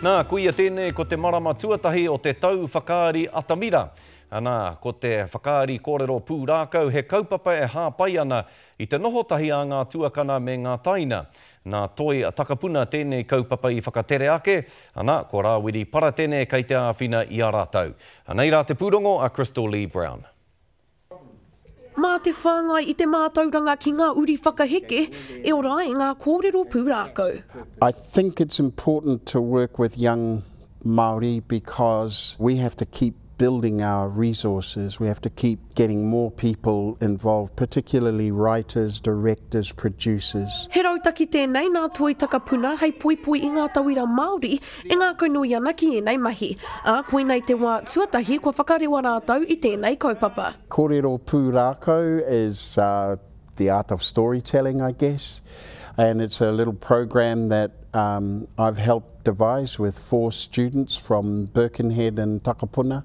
Nā, ko ia tēnei ko te marama tuatahi o te tau whakaari atamira. Anā, ko te whakaari kōrero pūrākau he kaupapa e hāpai ana i te noho tahi a ngā tuakana me ngā taina. Nā Toi Takapuna tēnei kaupapa i whakatere ake, anā, ko Rāwiri Paratene kei te āwhina i a rātou. Anei rā te pūrongo a Crystal Lee-Brown. Mā te whāngai i te mātauranga ki ngā uri whakaheke, e ora ai ngā kōrero pūrākau. I think it's important to work with young Māori because we have to keep building our resources, we have to keep getting more people involved, particularly writers, directors, producers. He rautaki tēnei nā Toi Takapuna hei poipoi i ngā tauira Māori E ngākau nui ana ki ēnei mahi, ā, koinei te wā tuatahi kua whakarewa rātou i tēnei kaupapa. Kōrero pūrākau is the art of storytelling I guess and it's a little program that I've helped devise with four students from Birkenhead in Takapuna.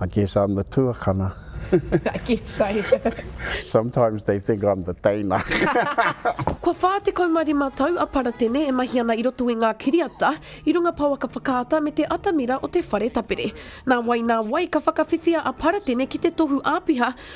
I guess I'm the tuakana. I guess so. Sometimes they think I'm the teina. Kua 45 tau a Paratene e mahi ana i roto i ngā kiriata, i runga pouaka whakaata me te atamira o te whare tapere. Nā wai nā wai ka whakawhiwhia a Paratene ki te tohu āpiha